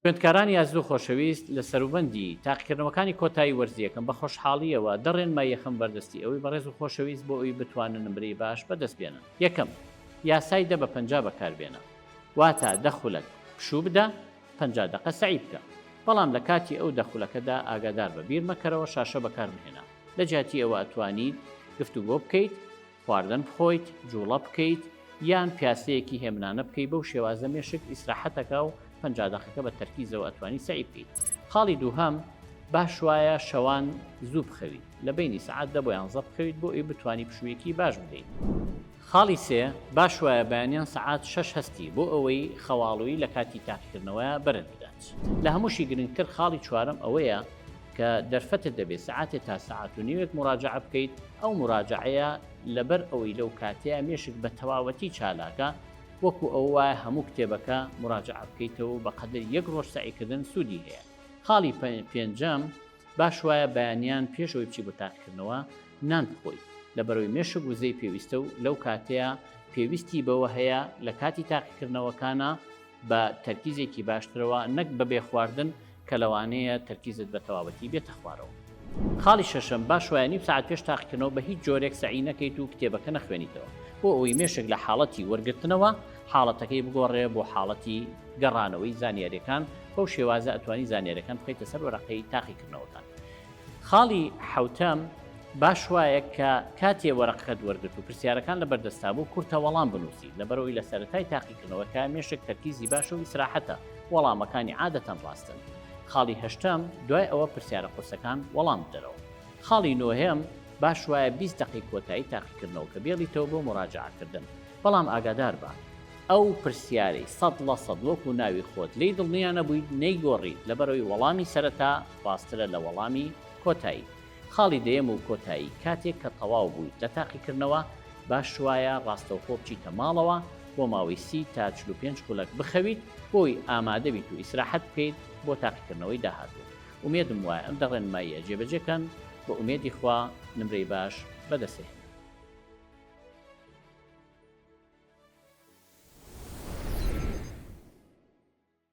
خوێندکارانی ئازیزو خۆشەویست لە سەروبەندی تاقیکردنەوەکانی کۆتایی وەرزییەکەم بە خۆشحاڵییەوە دە ڕێنمای یەخەم بەردەستی ئەوی بەڕێز و خۆشەویست بۆ ئەوی بتوانن نمرەی باش بەدەست بێنن یەکەم یاسای دە بە پەنجا بەکار بێنە واتە دە خولەک پشوو بدە پەنجا دەقە سەعی بکە بەڵام لە کاتی ئەو دە خولەکەدا ئاگادار بە بیر مەکەرەوە شاشە بەکار مەهێنە لە جیاتی ئەوە ئەتوانیت گفتوگۆ بکەیت خواردن بخۆیت، جوڵە بکەیت، یان پیاسەیەکی هێمنانە بکەیت، بەو شێوازە مێشک ئیسراحەت ئەکا و پەنجا دەقەکە بە تەرکیزەوە ئەتوانی سەعی بکەیت. خاڵی دووهەم، باش وایە شەوان زوو بخەویت، لە بەینی سەعات دە بۆ یانزە بخەویت بۆ ئەوی بتوانی پشوویەکی باش بدەیت. خاڵی سێ، باش وایە بەیانیان سەعات شەش هەستی بۆ ئەوەی خەواڵوویی لە کاتی تاقیکردنەوەیا بەرت بدات. لە هەمووشی گرنگتر خاڵی چوارەم ئەوەیە کە دەرفەتت دەبێت سعاتێ تا سعات و نوێک مراجعە بکەیت ئەو مراجعەیە لەبەر ئەوەی لەو کاتەیە مێشک بە تەواوەتی چالاکە وەکو ئەو وایە هەموو کتێبەکە مراجعە بکەیتەوە بە قەدر یەک ڕۆژ سعیکردن سوودی هەیە خاڵی پێنجەم باش وایە بەیانیان پێشەوەی بچی بۆ تاقکردنەوە نان بخۆی لە بەرەوەی مێشک وزەی پێویستە و لەو کاتەیە پێویستی بەوە هەیە لە کاتی تاقیکردنەوەکانە بە تەرکیزێکی باشترەوە نەک بەبێ خواردن کە لەوانەیە تەرکیزت بە تەواوەتی بێتە خوارەوە. خاڵی شەشەم، با شوایە نیو سەعات پێش تاقیکردنەوە بە هیچ جۆرێک سەعی نەکەیت و کتێبەکە نەخوێنیتەوە، بۆ ئەوەی مێشک لە حاڵەتی وەرگرتنەوە حاڵەتەکەی بگۆڕێ بۆ حاڵەتی گەڕانەوەی زانیاریەکان، بەو شێوازە ئەتوانی زانیاریەکان بخەیتە سەر وەرەقەی تاقیکردنەوەکان. خاڵی حەوتەم، باش وایە کە کاتێ وەرەقەکەت وەرگرت و پرسیارەکان لەبەر دەستتا بوو، کورتە وەڵام بنووسیت، لەبەرئەوەی لە سەرەتای تاقیکردنەوەکە مێشک تەرکیزی باشە و ئیسراحەتە، وەڵامەکانی عادەتەن ڕاستن. خاڵی هەشتەم، دوای ئەوە پرسیارە قورسەکان وەڵام بدەرەوە. خاڵی نۆیەم، باش وایە بیست دەقەی کۆتایی تاقیکردنەوەکە بێڵیتەوە بۆ موراجەعەکردن، بەڵام ئاگادار بە، ئەو پرسیارەی سەد لە سەد وەکوو ناوی خۆت لێی دڵنیا نەبوویت نەیگۆڕیت، لەبەرئەوەی وەڵامی سەرەتا ڕاستترە لە وەڵامی کۆتایی. خاڵی دەیەم و کۆتایی، کاتێک کە تەواو بوویت لە تاقیکردنەوە، باشوایە ڕاستەوخۆ بچیتە ماڵەوە، بۆ ماوەی سی تا چل و پێنج خولەک بخەویت، بۆی ئامادەبیت و ئیسراحەت بکەیت بۆ تاقیکردنەوەی داهاتوو. ئومێدم وایە ئەم دە ڕێنماییە جێبەجێکەن، بە ئومێدی خوا نمرەی باش بەدەستهێنیت.